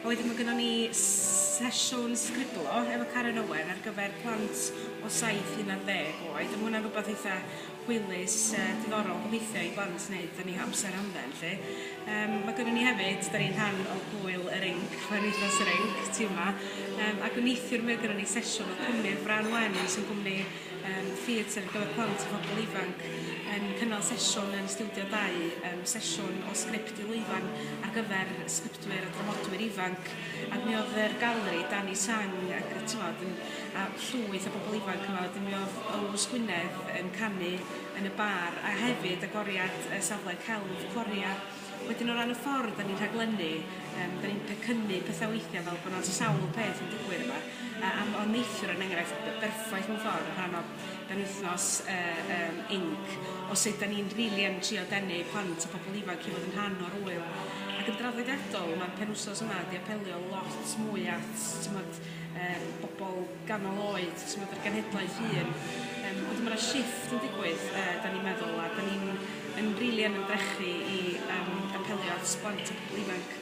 A wedyn ma' gynnon ni s- sesiwn sgriblo efo Caren Owen ar gyfer plant o saith i unardd deg oed a ma' hwnna'n rwbath eitha hwylus yy diddorol gobeithio i blant neud yn 'u hamser hamdden 'lly. Yym ma' gynnon ni hefyd, 'dan ni'n rhan o Gŵyl yr Inc, mae'n Wythnos yr Inc ti wma, yym ag neithiwr mi oedd gynnon ni sesiwn o cwmni'r Frân Wen sy'n gwmni yym theatr ar gyfer plant a phobol ifanc yn cynnal sesiwn yn Stiwdio Dau yym sesiwn o sgript i lwyfan ar gyfer sgriptiau Mae yna dramodwyr ifanc ac mi oedd yr galeri, Danny Tsang ac yy t'mod yn a llwyth o bobl ifanc yma wedyn mi oedd Owls Gwynedd yn canu yn y bar a hefyd agoriad y safle celf Coria. Wedyn o ran y ffordd 'dan ni'n rhaglennu yym 'dan ni'n pecynnu petha weithia' fel bo' 'na sawl peth yn digwydd yma a a m- o'dd neithiwr yn enghraifft b- berffaith mewn ffor o rhan o yn wythnos yy yym inc o sut 'dan ni'n rili yn trio denu plant a pobol ifanc i fod yn rhan o'r ŵyl ac yn draddodiadol ma'r penwsos yma 'di apelio lot mwy at t'mod yym bobol ganol oed t'mod yr genhedlaeth hŷn yym ond ma' 'na shifft yn digwydd yy 'dan ni'n meddwl a 'dan ni'n yn rili yn ymdrechu i yym apelio at blant a pobol ifanc.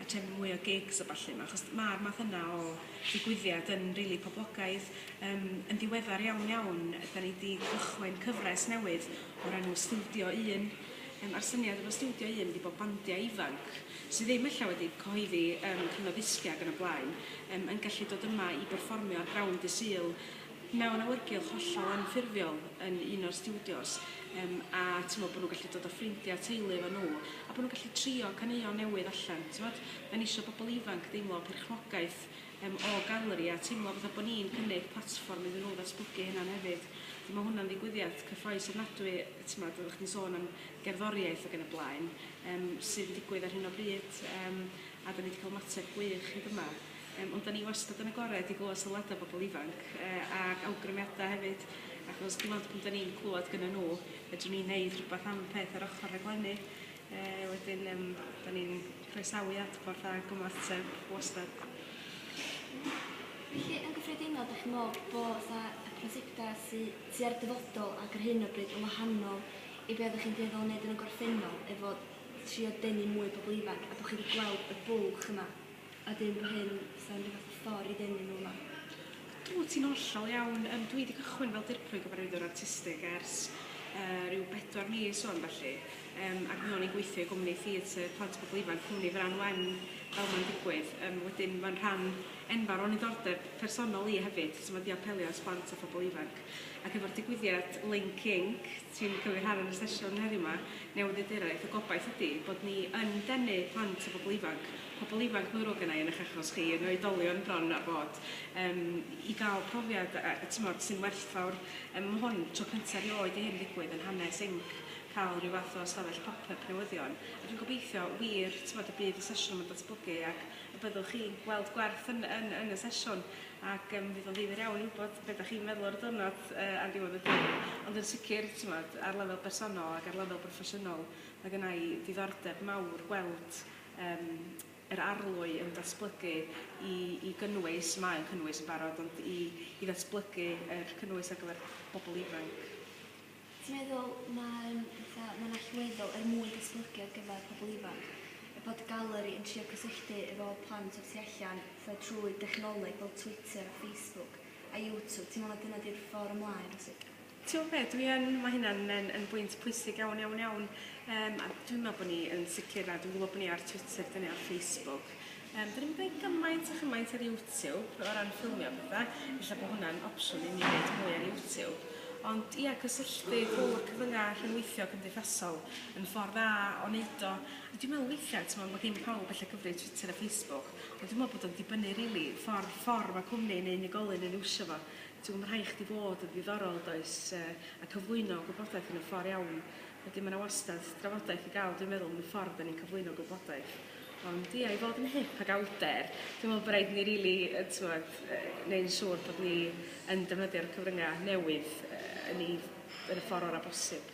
attend mwy o gigs a ballu 'ma achos ma'r math yna o ddigwyddiad yn rili poblogaidd yym yn ddiweddar iawn iawn 'dan ni 'di cychwyn cyfres newydd o'r enw Stiwdio Un yym a'r syniad efo Stiwdio Un ydi bo' bandia ifanc sy ddim ella wedi cyhoeddi yym cyfnod ddisgia ag yn y blaen yym yn gallu dod yma i berfformio ar Ground Dydd Sul mewn awyrgylch hollol anffurfiol yn un o'r stiwdios yym a t'mo' bo' nhw'n gallu dod â ffrindia a teulu efo nhw a bo' nhw'n gallu trio caneuon newydd allan t'mod 'dan ni isio bobol ifanc deimlo perchnogaeth yym o galeri a teimlo fatha bo' ni'n cynnig platfform iddyn nhw ddatblygu hunan hefyd a ma' hwnna'n ddigwyddiad cyffrous ofnadwy yy t'mod oddach chdi'n sôn am gerddoriaeth ag yn y blaen yym sydd yn digwydd ar hyn o bryd yym a 'dan ni 'di ca'l ymateb gwych hyd yma. Yym ond 'dan ni wastad yn agored i glywed sylwada bobl ifanc yy ac awgrymiada hefyd achos dim ond pan 'dan ni'n clywed gynnon nhw fedrwn ni neud rhywbeth am y peth ar ochor rhaglenni yy wedyn yym 'dan ni'n croesawu adborth ag ymateb wastad. Felly yn gyffredinol 'dach chi'n me'wl bo' 'tha y prosiecta sy sy ar dyfodol ac ar hyn o bryd yn wahanol i be' oddach chi'n dueddol o neud yn y gorffennol efo trio denu mwy o bobl ifanc a bo' chi 'di gweld y bwlch yma? A dyn bo hyn, sa'm ryw fath o ffor i ddenu nw yma. Wt ti'n hollol iawn. Yym dwi 'di cychwyn fel dirprwy gyfarwyddwr artistig ers yy ryw bedwar mis ŵan felly yym ac mi o'n i'n gweithio i gwmni theatr plant a pobl ifanc cwmni Frân Wen fel ma'n digwydd yym wedyn ma'n rhan enfawr o'n niddordeb personol i hefyd so ma' 'di apelio at blant a phobl ifanc ac efo'r digwyddiad Link Inc ti'n cymryd rhan yn y sesiwn heddiw 'ma Newyddiaduraeth y gobaith ydi bod ni yn denu plant a phobl ifanc pobl ifanc mor ddrwg genai yn eich achos chi yn oedolion bron a bod yym i ga'l profiad a a t'mod sy'n werthfawr yym ma' hwn tro cynta rioed i hyn ddigwydd yn hanes inc ca'l ryw fath o ystafell pop yp newyddion a dwi'n gobeithio wir t'mod y bydd y sesiwn yma'n datblygu ac y byddwch chi'n gweld gwerth yn yn yn y sesiwn ac yym fydd o'n ddifyr iawn i wybod be' 'dach chi'n meddwl ar y diwrnod yy ar ddiwedd y dydd ond yn sicir t'mod ar lefel bersonol ac ar lefel broffesiynol ma' gennai ddiddordeb mawr gweld yym yr arlwy yn datblygu i i gynnwys, mae o'n cynnwys yn barod, ond i i ddatblygu yr cynnwys ar gyfer pobl ifanc. Ti'n meddwl mae'n fatha mae'n allweddol er mwyn datblygu ar gyfer pobl ifanc y bod y galeri yn trio cysylltu efo plant o'r tu allan fatha trwy dechnoleg fel Twitter a Facebook a YouTube ti'n meddwl na dyna di'r ffor ymlaen rywsut? T'w'o' be' dwi yn ma' hynna'n yn yn bwynt pwysig iawn iawn iawn yym a dwi'n me'wl bo' ni yn sicir a dwi'n gwbo bo' ni ar Twitter 'dyn ni ar Facebook yym 'dyn ni'm deud gymaint a chymaint ar YouTube o ran ffilmio a petha ella bo' hwnna'n opsiwn i ni neud mwy ar YouTube ond ia cysylltu drw'r cyfrynga' rhyngweithio cymdeithasol yn ffor dda o neud o a dwi me'wl weithia' t'mo' ma' gin pawb ella cyfrif Twitter a Facebook ond dwi me'wl bod o'n dibynnu rili ffor ffor ma' cwmni neu unigolyn yn iwsio fo. Ti'm yn rhaid chdi fod yn ddiddorol, does, a cyflwyno gwybodaeth yn y ffor iawn. Wedyn ma' 'na wastad drafodaeth i ga'l dwi'n meddwl am y ffor 'dan ni'n cyflwyno gwybodaeth. Ond ia i fod yn hip ag awdur dwi'n meddwl bo' raid ni rili yy t'mod yy neu'n siŵr bod ni yn defnyddio'r cyfrynga' newydd yy yn 'i yn y ffor ora' bosib.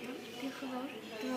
Iawn, diolch yn fowr. Dwi me'wl